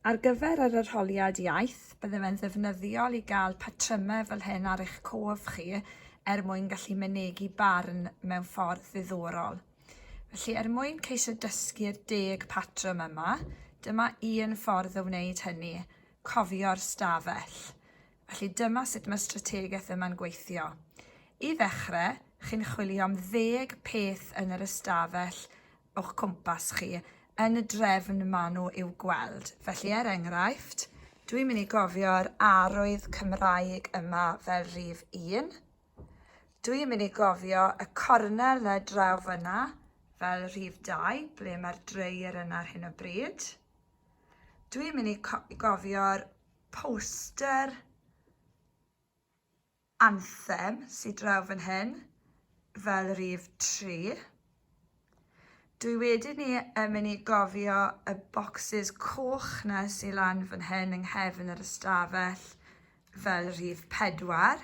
Ar gyfer yr arholiad iaith, bydde fe'n ddefnyddiol i gael patrymau fel hyn ar eich cof chi er mwyn gallu mynegi barn mewn ffordd ddiddorol. Felly, er mwyn ceisio dysgu'r deg patrwm yma, dyma un ffordd o wneud hynny, cofio'r stafell. Felly dyma sut mae'r strategaeth yma'n gweithio. I ddechrau, chi'n chwilio am ddeg peth yn yr ystafell o'ch cwmpas chi yn y drefn ma' nhw i'w gweld. Felly er enghraifft, dwi'n mynd i gofio'r arwydd Cymraeg yma fel rhif un. Dwi'n mynd i gofio y cornel 'na draw fyna fel rhif dau, ble mae'r dreir yna ar hyn o bryd. Dwi'n mynd i gofio'r poster Anthem sy draw fan hyn, fel rif tri. Dwi wedi ni yn mynd i gofio y bocsys coch na sy lan fan hyn yng nghefn yr ystafell fel rhif pedwar.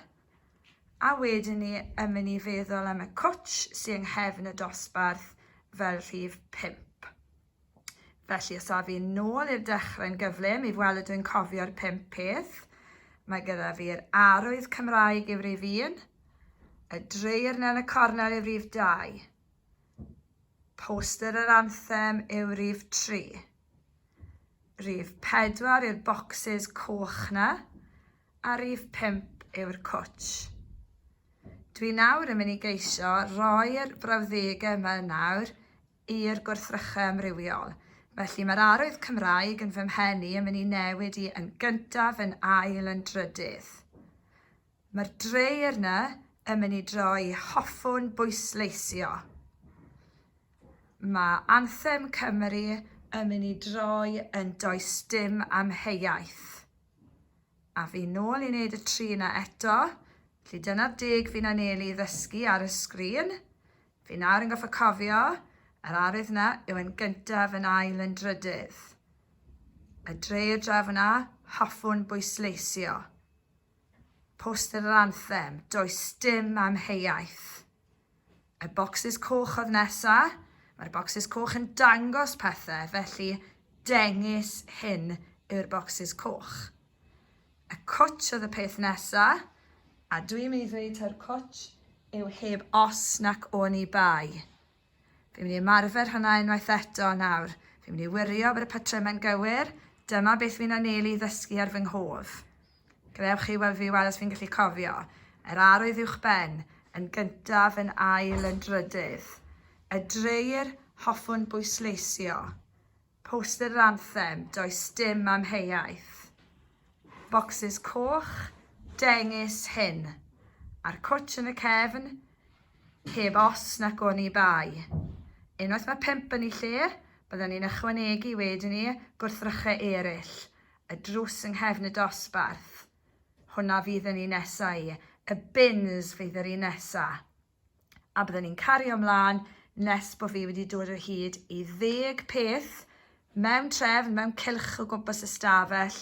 A wedyn ni yn mynd i feddwl am y cwtsh sy yng nghefn y dosbarth fel rhif pump. Felly, os a fi'n nôl i'r dechrau yn gyflym, i weld dwi'n cofio'r pump peth, mae gyda fi'r arwydd Cymraeg i frif un, y dreirn yn y cornel i frif dau, poster yr anthem yw rif tri, rif pedwar yw'r bocsys coch na, a rif pump yw'r cwtsh. Dwi nawr yn mynd i geisio roi'r brawddegau yma nawr i'r gwrthrychau amrywiol. Felly, mae'r arwydd Cymraeg yn fy mhen i yn mynd i newid i yn gyntaf, yn ail, yn drydydd. Mae'r dreir 'na yn mynd i droi i hoffwn bwysleisio. Mae Anthem Cymru yn mynd i droi yn does dim amheuaeth. A fi nôl i wneud y tri 'na eto. Felly dyna'r deg fi'n anelu i ddysgu ar y sgrin. Fi nawr yn goffa cofio, yr arwydd na yw yn gyntaf yn ail yn drydydd. Y dre y dref yna, hoffwn bwysleisio. Poster yr anthem, does dim amheuaeth. Y bocsys coch oedd nesa, mae'r bocsys coch yn dangos pethau, felly dengys hyn yw'r bocsys coch. Y cwtsh oedd y peth nesa. A dw i'n mynd i ddweud taw'r cwtsh yw heb os nac oni bai. Fi'n mynd i ymarfer hwnna unwaith eto nawr. Fi'n mynd i wirio bod y patrymau'n gywir, dyma beth fi'n anelu i ddysgu ar fy nghof. Gadewch chi weld fi weld os fi'n gallu cofio. Yr arwydd uwch ben, yn gyntaf, yn ail, yn drydydd. Y dreir hoffwn bwysleisio. Poster yr anthem, does dim amheuaeth. Bocsys coch, dengys hyn. A'r cwtsh yn y cefn, heb os nac oni bai. Unwaith mae pump yn eu lle, byddan ni'n ychwanegu, wedyn 'ny, gwrthrychau eraill. Y drws yng nghefn y dosbarth. Hwnna fydd yn un nesa i. Y bins fydd yr un nesa. a byddwn ni'n cario ymlaen nes bod fi wedi dod o hyd i ddeg peth mewn trefn, mewn cylch o gwmpas y stafell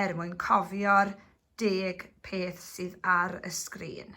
er mwyn cofio'r deg peth sydd ar y sgrin.